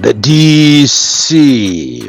the dc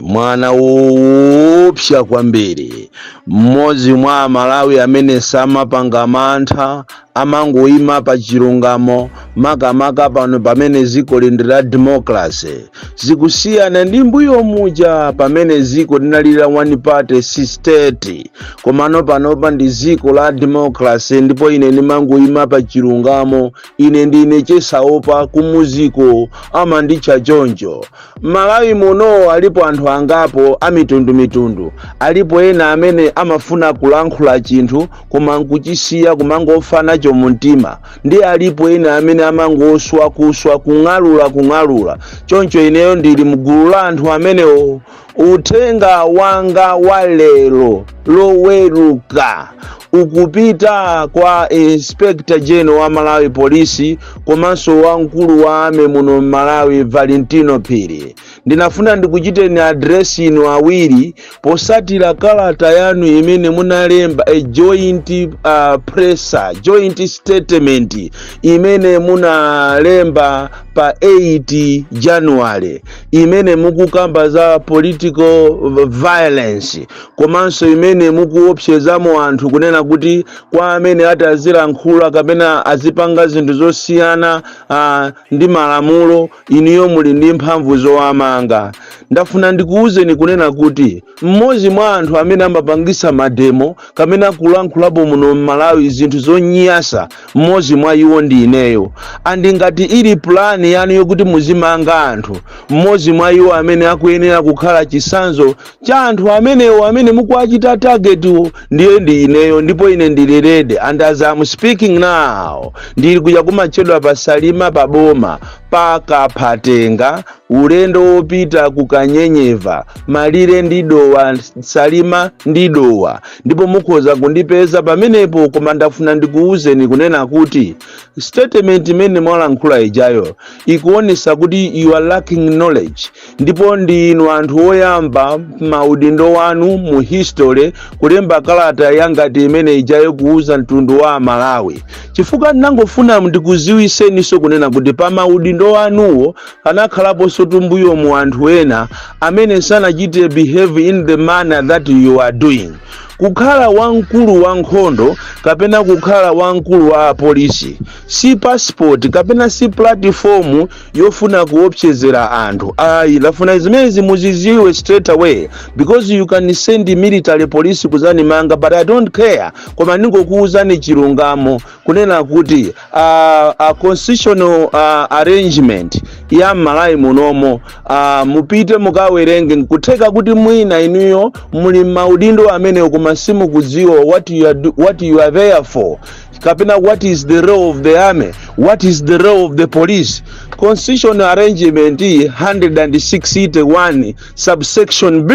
mwana woopsa kwambiri mmodzi mwa amalawi amene samapanga mantha amangoima pa chilungamo makamaka pano pamene dziko lili la democracy zikusiyana ndi mbuyo muja pamene dziko linali la one party state komano panopa ndi dziko la democracy ndipo ine ndimangoyima pa chilungamo ine ndine chesaopa kumuziku amanditcha choncho malawi muno alipo anthu angapo amitundumitundu alipo ena amene amafuna kulankhula chinthu koma nkuchisiya kumangofana chomumtima Ndi alipo ena amene amangoswa, kuswa, kung'alula, kung'alula. Choncho ineyo ndili mgulu la anthu amenewo. Uthenga wanga wa lero loweruka ukupita kwa Inspector General wa Malawi Police komanso wamkulu wa army muno Malawi Valentino Phiri. ndinafuna ndikuchiteni address inu awiri potsatira kalata yanu imene munalemba a joint uh, presser joint statement imene munalemba pa 8 january imene mukukamba za political violence komanso imene mukuopsezamo anthu kunena kuti kwa amene atazilankhula kapena azipanga zinthu zosiyana uh, ndi malamulo Inuyo muli ndi mphamvu zowamanga. Ndafuna ndikuuzeni kunena kuti mmodzi mwa anthu amene amapangitsa mademo kapena kulankhulapo muno m'Malawi zinthu zonyasa, mmodzi mwa iwo ndi ineyo. And ngati ili plan yanu yokuti muzimanga anthu, mmodzi mwa iwo amene akuyenera kukhala chitsanzo cha anthu amenewo amene mukuwachita targetwo ndiye ndi ineyo ndipo ine ndili ready and as I'm speaking now ndili kuja kumatchedwa pa salima pa boma pa kaphatenga ulendo wopita ku kanyenyeva malire ndi dowa salima ndi dowa ndipo mukhoza kundipeza pamenepo koma ndafuna ndikuwuzeni kunena kuti statement imene mwalankhula ijayo ikuonesa kuti you are lacking knowledge ndipo ndi inu anthu oyamba maudindo wanu mu history kulemba kalata yangati imene ijayo kuuza mtundu wa amalawi chifukwa ndinangofuna ndikuziwiseninso kunena kuti pa maudindo wanuwo anakhalaponso m'mbuyomu anthu ena amene sanachite behave in the manner that you are doing kukhala wamkulu wa nkhondo kapena kukhala wamkulu wa polisi si passport kapena si platform yofuna kuopsezera anthu ayi ndafuna zimenezi muziziwe straight away because you can send military police kuzanimanga but i don't care koma ndingokuuzani chilungamo kunena kuti uh, uh, constitutional uh, arrangement ya m'malawi munomo uh, mupite mukawerenge nkutheka kuti mwina inuyo muli m'maudindo amenewo koma simukudziwa what you are, do- what you are there for kapena what is the role of the army what is the role of the police constitution arrangement 161 subsection b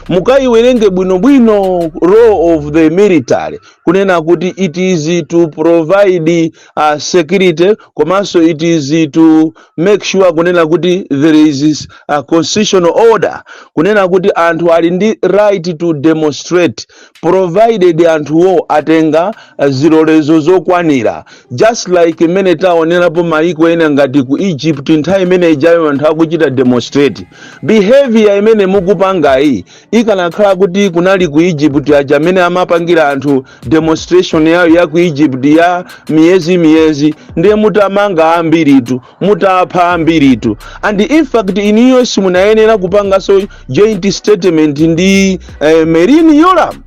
mukaiwerenge bwinobwino role of the military kunena kuti it is to provide uh, security komanso it is to make sure kunena kuti there is a constitutional order kunena kuti anthu ali ndi right to demonstrate provided anthuwo atenga eh, zilolezo zokwanira just like mmene taonerapo mayiko ena ngati ku egypt nthawi imene ijayo anthu akuchita demonstrate behavior imene mukupangayi ikanakhala kuti kunali ku egypt ija mmene amapangira anthu demonstration yawo ya ku egypt ya miyezi miyezi ndiye mutamanga ambiritu mutapha ambiritu and in fact inuyo simunayenera kupanganso joint statement ndi eh, merlyne yolamu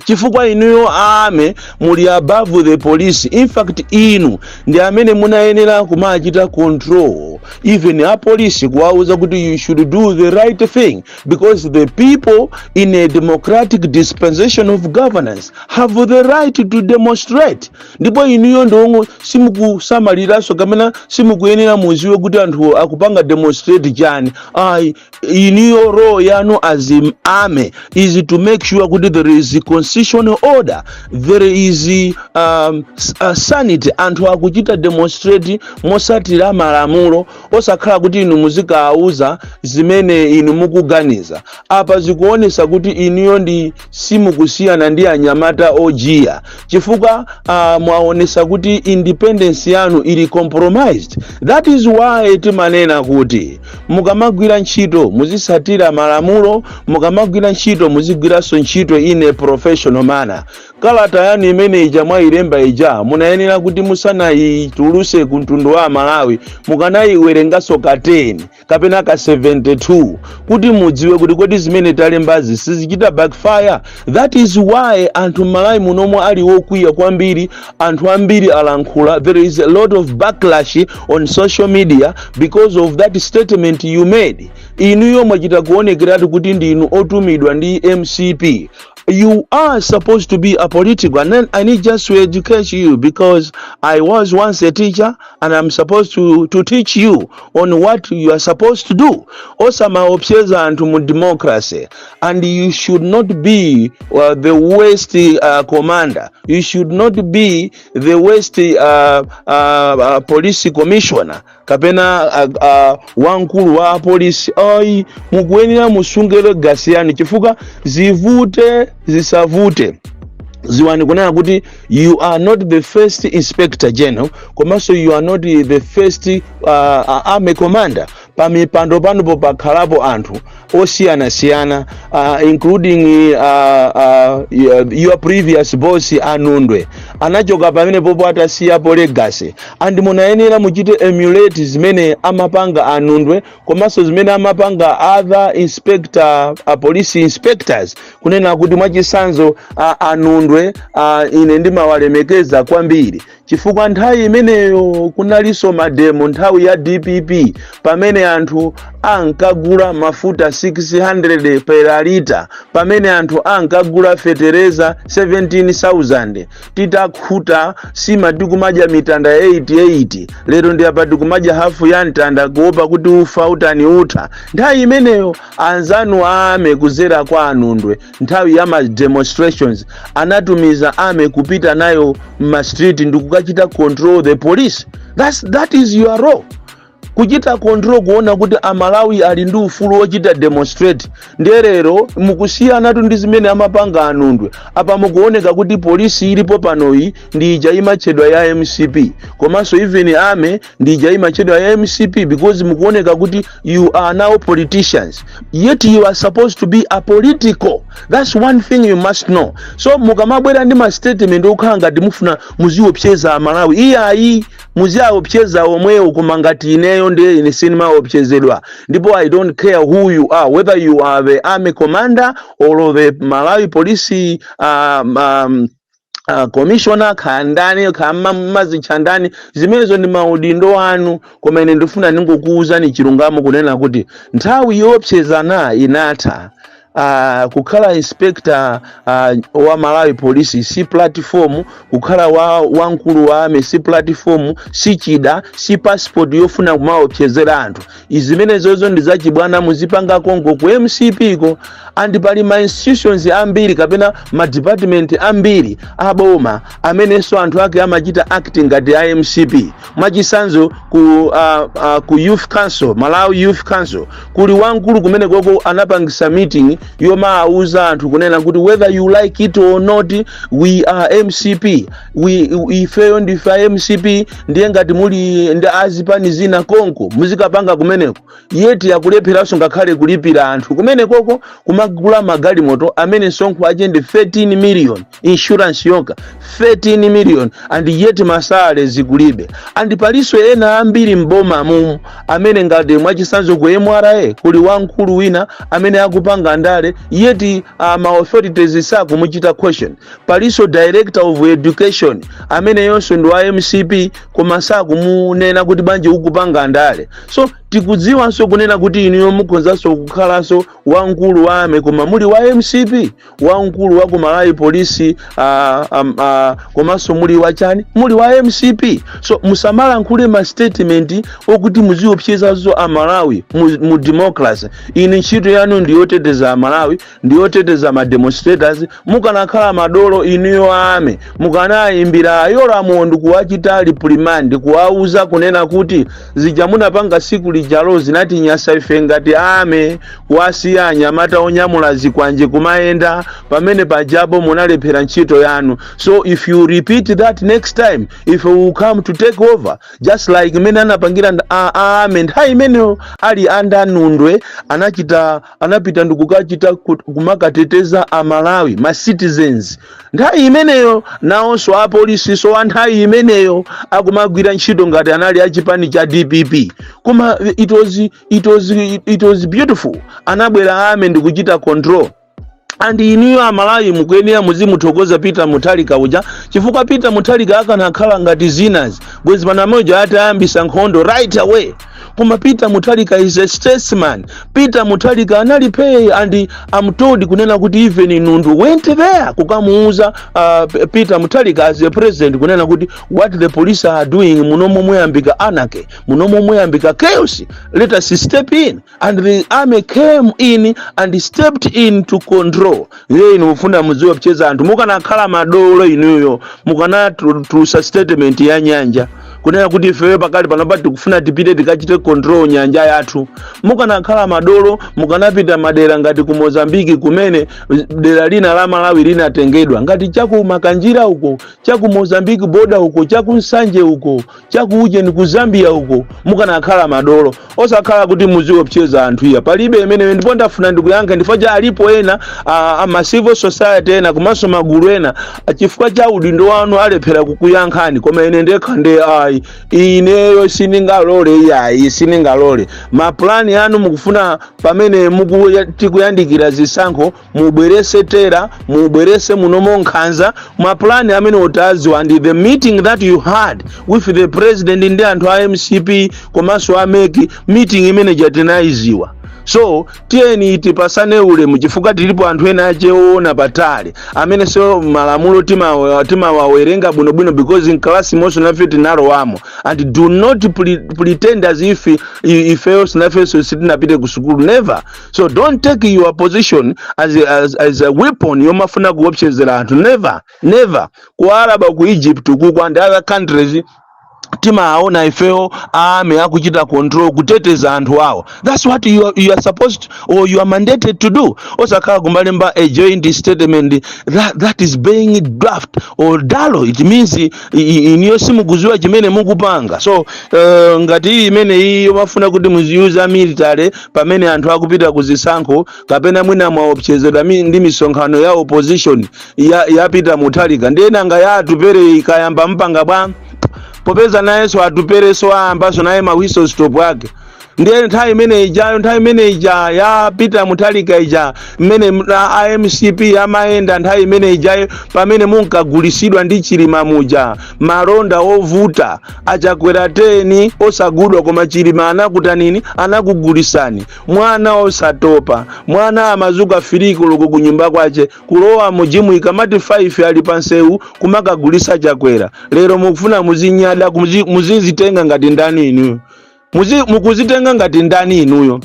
chifukwa inuyo a army muli above the police in fact inu ndi amene munayenera kumachita control even apolisi kuwauza kuti you should do the right thing because the people in a democratic dispensation of governance have the right to demonstrate ndipo inuyo ndiwongo simukusamaliranso kapena simukuyenera mudziwe kuti anthuwo akupanga demonstrate chani ayi inuyo role yanu as im- army is to make sure kuti there is a constitutional order there is um, s- uh, sanity anthu akuchita demonstrate motsatira malamulo osakhala kuti inu muzikawauza zimene inu mukuganiza apa zikuonesa kuti inuyo ndi simukusiyana ndi anyamata ojiya chifukwa uh, mwaonesa kuti independence yanu ili compromised that is why timanena kuti mukamagwira ntchito muzitsatira malamulo mukamagwira ntchito muzigwiranso ntchito in a professional manner kalata yanu imene ija mwayilemba ija munayenera kuti musanayitulutse ku mtundu wa amalawi mukanayiwerenganso ka 10 kapena ka 72 kuti mudziwe kuti kodi zimene talembazi sizichita backfire that is why anthu m'malawi munomo ali okwiya kwambiri anthu ambiri alankhula there is a lot of backlash on social media because of that statement you made inuyo mwachita kuonekeratu kuti ndinu otumidwa ndi mcp you are supposed to be apolitical and then i need just to educate you because i was once a teacher and I'm supposed to, to teach you on what you are supposed to do. Osamaopseza and mu democracy. And you should not be uh, the worst uh, commander. You should not be the worst uh, uh, uh, police commissioner. kapena uh, uh, wankulu wa polisi ayi mukuyenera musungire gasiyani chifukwa zivute zisavute ziwani kunena kuti you are not the first inspector general komanso you are not the first uh, uh, army commander pamipando panopo pakhalapo anthu osiyanasiyana uh, including uh, uh, your- your previous boss a Nundwe anachoka pamene popo atasiyapo legacy and munayenera muchite emulate zimene amapanga a Nundwe komanso zimene amapanga other inspector uh, police inspectors kunena kuti mwachitsanzo a- a Nundwe a, ine ndimawalemekeza kwambiri chifukwa nthawi imeneyo kunalinso mademo nthawi ya dpp pamene anthu ankagula mafuta 600 per lita pamene anthu ankagula fetereza 17000 titakhuta sima tikumadya mitanda 88 lero ndi apa tikumadya hafu ya mtanda kuopa kuti ufa utani utha nthawi imeneyo anzanu a army kudzera kwa a Nundwe nthawi ya ma demonstrations anatumiza army kupita nayo mma street ndikukachita control the police That's, that is your role kuchita control kuona kuti amalawi ali ndi ufulu wochita demonstrate ndiye lero mukusiyanatu ndi zimene amapanga a Nundwe apa mukuoneka kuti polisi ilipo panoyi ndi ija imatchedwa ya mcp komanso even army ndi ija imatchedwa ya mcp because mukuoneka kuti you are now politicians yet you are supposed to be apolitical that's one thing you must know so mukamabwera ndi ma statement okhala ngati mufuna muziopseza amalawi iyayi muziaopseza omwewo koma ngati ineyo ndiye ine sindimaopsezedwa ndipo i don't care who you are whether you are the army commander or the malawi police um, um, ah, komishona kaya ndani kaya ma- mazitcha ndani zimenezo ndi maudindo anu koma ine ndifuna ndingokuwuzani chilungamo kunena kuti nthawi yoopsezana inatha Uh, kukhala inspector uh, wa malawi police si platform kukhala wa wamkulu wa army si platform si chida si passport yofuna kumaopsezera anthu izimenezozo ndi zachibwana muzipanga konko ku mcp-ko and pali ma institutions ambiri kapena ma department ambiri aboma amenenso anthu ake amachita act ngati a mcp mwachisanzo ku, uh, uh, ku youth council malawi youth council kuli wamkulu kumene koko anapangisa meeting yomawuza anthu kunena kuti whether you like it or not we are mcp wi- wi- ifeyo ndife a mcp ndiye ngati muli ndi azipani zina konko muzikapanga kumeneko yet akulepheranso ngakhale kulipira anthu kumenekoko kumagula magalimoto amene msonkho wake ndi 13 million insurance yokha 13 million and yet ma salary zikulibe and palinso ena ambiri mboma mumu amene ngati mwachisanzo ku mra kuli wamkulu wina amene akupanga ndale yet uh, ma authorities sakumuchita question palinso director of education ameneyonso ndi wa mcp koma sakumunena kuti bwanji ukupanga ndale so tikudziwanso kunena kuti inuyo mukhonzanso kukhalanso wamkulu wa army koma muli wa mcp wamkulu wa ku malawi police ah, am- ah, komanso muli wa chani muli wa mcp so musamalankhule ma statement okuti muziopsyezaso amalawi mu, mu democracy inu ntchito yanu ndiyoteteza amalawi ndiyoteteza ma demonstrators mukanakhala madolo inuyo army mukanayimbira a yolamu ndikuwachita reprimand kuwauza kunena kuti zija munapanga tsiku lijalo zinatinyasa ife ngati army kuwasiya anyamata onyamula zikwanje kumayenda pamene pajapo munalephera ntchito yanu so if you repeat that next time if we come to take over just like mmene anapangira nd- a- a- army nthawi imeneyo ali under nundwe anachita anapita ndikukachita kumakateteza amalawi ma citizens nthawi imeneyo nawonso apolisiso a nthawi imeneyo akumagwira ntchito ngati anali achipani cha dpp koma it was, it was, it was beautiful anabwera army ndikuchita control and inuyo amalawi mukuyenera muzimuthokoza peter mutharika uja chifukwa peter mutharika akanakhala ngati enawa bwezi pano muja atayambisa nkhondo right away koma peter mutharika is a statesman peter mutharika anali phee and i'm told kunena kuti even nundwe went there kukamuuza uh, P- peter mutharika as a president kunena kuti what the police are doing munomo muyambika anarchy munomo muyambika chaos let us step in and the army came in and stepped in to control iye inu mufuna muziwopseza anthu mukanakhala madolo inuyo mukanatulusa statement ya nyanja kunena kuti ifeyo pakali panopa tikufuna tipite tikachite control nyanja yathu mukanakhala madolo mukanapita madera ngati ku mozambique kumene dera lina la malawi linatengedwa ngati chaku makanjira uko chaku mozambique border uko chaku nsanje uko chaku ujeni ku zambia uko mukanakhala madolo osakhala kuti muziopseza anthu iya palibe imeneyo ndipo ndafuna ndikuyankheni ndifukwa cha alipo ena a, a ma civil society ena komanso magulu ena a, chifukwa cha udindo wanu alephera kukuyankhani koma ine ndekha nde ayi ineyo sindingalole iyayi sindingalole mapulani anu mukufuna pamene muku- tikuyandikira zisankho mubwerese terror mubwerese munomo nkhanza mapulani amenewo tawaziwa and the meeting that you had with the president ndi anthu a mcp komanso a mec meeting imene ija tinayiziwa so tiyeni tipasane ulemu chifukwa tilipo anthu ena ache oona patali ameneso malamulo timawa- timawawerenga bwinobwino because in class monsemo nafe tinalowamo and do not pre- pretend as if i- ifeyo nafenso sitinapite ku sukulu never so don't take your position as a, as, as a weapon yomafuna kuopsezera anthu never never ku araba ku egypt kuku and other countries timaona ifeyo army akuchita control kuteteza anthu awo that's what you are, you are supposed or you are mandated to do osakhala kumalemba a joint statement that, that is being draft or dalo it means i- i- inuyo simukuziwa chimene mukupanga so uh, ngati iyi imene iyi yomafuna kuti muziuza military pamene anthu akupita ku zisankho kapena mwina mwaopsezedwa mi- ndi misonkhano ya opposition ya, ya peter mutharika ndiye nanga ya atupere ikayamba mpanga bwa popeza nayenso atupereso ayambaso naye ma whistle stop ake ndiye nthawi imene ijayo nthawi imene ija ya peter mutharika ija mmene m- a- a mcp amayenda nthawi imene ijayo pamene munkagulisidwa ndi chilima muja malonda ovuta a chakwera 10 osagudwa koma chilima anakutanini anakugulisani mwana osatopa mwana amazuka 3 koloko kunyumba kwache kulowa mu gym ikamati 5 ali pansewu kumakagulisa chakwera lero mukufuna muzinyada muzi- muzizitenga ngati ndani inuyo Muzi- mukuzitenga ngati ndani inuyo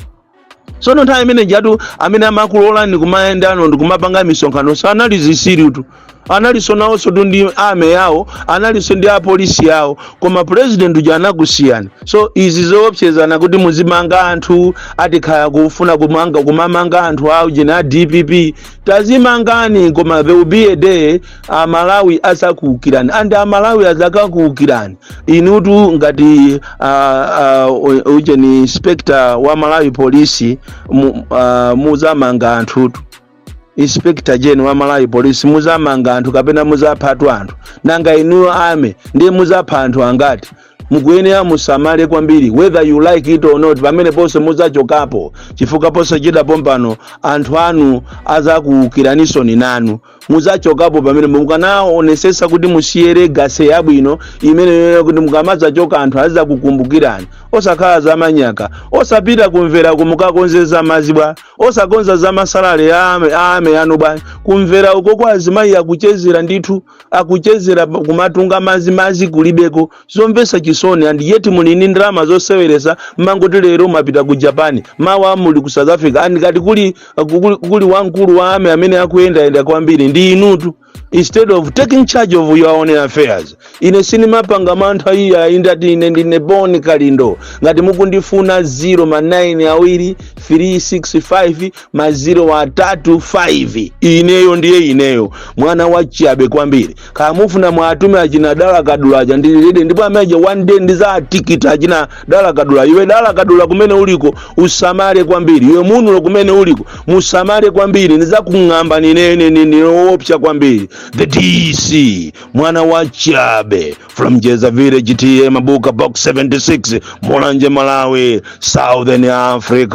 tsono nthawi imene ijatu amene amakulolani kumayendano ndikumapanga misonkhano sanali zisirutu analinso nawonsotu ndi army yawo analinso ndi apolisi yawo koma purezidenti uja anakusiyani so izi zoopsezana kuti muzimanga anthu atikhala kufuna kumanga kumamanga anthu aujeni a dpp tazimangani koma there will be a day amalawi azakuukirani and amalawi azakakuukirani inutu ngati uh, uh, ujeni inspector wa malawi police mu, uh, muzamanga anthutu inspector gen wa malawi police muzamanga anthu kapena muzaphatu anthu nanga inuyo army ndiye muzapha anthu angati mukuyenera musamale kwambiri whether you like it or not pameneponso muzachokapo chifukwa posachedwa pompano anthu anu azakuukiranisoni nanu mudzachokapo pamenepo mukanaonesesa kuti musiye legacy yabwino imeneyo kuti mukamadzachoka anthu azidzakukumbukirani osakhala zamanyaka osapita ku mvera kumakakonza za mazi bwa osakonza za ma salary ya ame- a army anu bwa ku mvera uko kwa azimayi akuchezera ndithu akuchezera pa- kumatunga mazi mazi kulibeko zomvesa chisoni and yet muli ndi ndalama zoseweresa mmangoti lero mwapita ku japan mawa muli ku south africa and ngati kuli kuli, kuli wamkulu wa army amene akuyendayenda kwambiri ndi inutu instead of taking charge of your own affairs ine sinimapanga mantha iyayi ndati ine ndine bon kalindo ngati mukundifuna 0 ma 9 awiri 365 ma 0 atatu 5 ineyo ndiye ineyo mwana wachiyabe kwambiri kaya mufuna mwatume achina dala kadula aja ndili ready ndipo amene aja one day ndizatikita achina dala kadula iwe dala kadula kumene uliko usamale kwambiri iwe munulo kumene uliko musamale kwambiri ndizakung'amba ninene ndili woopsa kwambiri the dc mwana wa chabe from jeza village ta mabuka box 76 mulanje malawi southern africa